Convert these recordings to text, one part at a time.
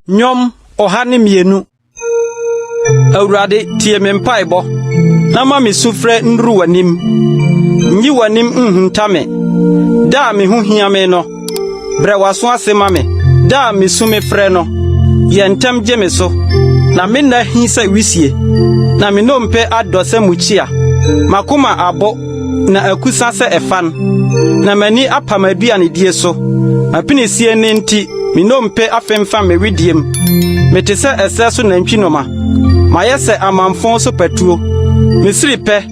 Nnwom ɔha ne mmienu. Awurade, tie me mpaebɔ, na ma me sufrɛ nnuru w'anim. Nyi w'anim nhunta me, da a me ho hia me no. Brɛ w'aso ase ma me, da a misu mefrɛ no. Yɛ ntɛm gye me so, na me nna ahi sɛ wisie, na me nnompe adɔ sɛ mukyia. M'akoma abo, na akusa sɛ ɛfan, na m'ani apa m'aduanedie so. M'apinisie nne nti, me nnompe afemfam me wedeɛm. Mete sɛ ɛserɛ so nantwinoma. Mayɛ sɛ amamfõ so patuo. Misiri pɛ,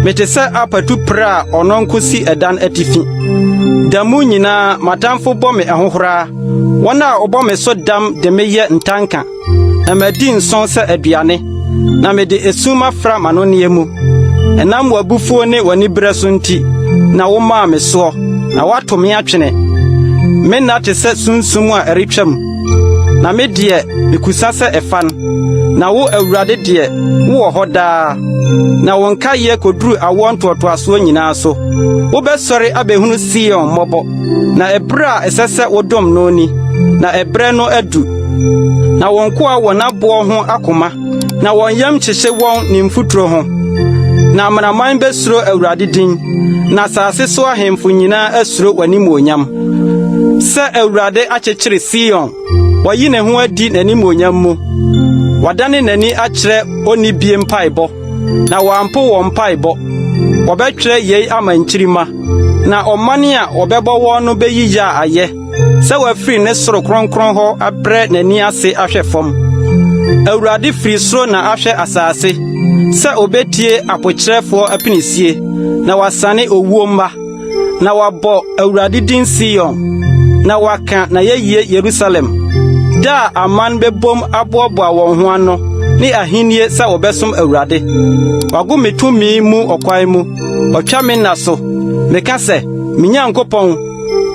mete sɛ apatu pere a ɔno nko si ɛdan atifi. Da mu nyinaa m'atamfo bɔ me ahohora, wɔn a wɔbɔ me so dam de me yɛ ntanka, na madi nsõ sɛ aduane, na mede esum afra m'anonneɛ mu. Ɛnam w'abufuo ne w'aniberɛ so nti na womaa me soɔ, na woato me atwene. Me nna te sɛ sunsum a ɛretwam. Na me deɛ, mekusa sɛ ɛfa no. Na wo, Awurade deɛ, wowɔ hɔ daa, na wo nkaeɛ kɔduru awoɔ ntoatoasoɔ nyinaa so. Wobɛsɔre abɛhunu Sion mmɔbɔ, na ɛberɛ a ɛsɛ sɛ wodom no ni, na ɛberɛ no adu. Na wo nkoa wɔ n'aboɔ ho akoma. na wɔn yam kyekye wɔn ne mfuturo ho. Na amanaman bɛsuro Awurade din, na asase so ahemfo nyinaa asuro w'animuonyam. Sɛ Awurade akyekyere Sion, wayi ne ho adi n'animuonyam mu. Wadane n'ani akyerɛ onnibie mpaebɔ, na wampo wɔn mpaebɔ. Wɔbɛtwerɛ yei ama nkyirimma, na ɔman a wɔbɛbɔ wɔn no bɛyi yea ayɛ. sɛ wafiri ne soro kronkron hɔ abrɛ n'ani ase ahwɛ fam. Awurade firi soro na ahwɛ asase sɛ obetie apokyerɛfoɔ apinisie na wasane owuo mma, na wabɔ Awurade din Sion, na waka n'ayɛyie Yerusalem. Da a aman bɛbom aboaboa wɔn ho ano ne ahennie sɛ wɔbɛsom Awurade. Wago me tumi mu ɔkwan mu, ɔtwa me nna so. Meka sɛ, Me Nyankopɔn,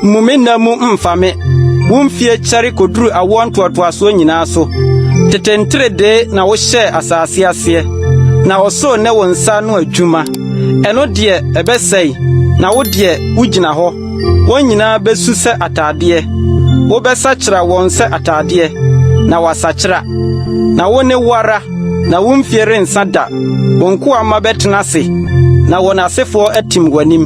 Mmu me nna mu mfa me. Wo mfie kyɛre koduru awoɔ ntoatoasoɔ nyinaa so. Tete nteredee na wohyɛɛ asase aseɛ, na ɔsoro ne wo nsa ano adwuma. Ɛno deɛ, ɛbɛsɛe, na wo deɛ, wogyina hɔ. Wɔn nyinaa bɛsu sɛ atadeɛ. Wobɛsakyera wɔn sɛ atadeɛ, na wɔasakyera. Na wo ne wo ara, na wo mfie rensa da. Wo nkoa mma bɛtena ase, na wɔn asefoɔ atim w'anim.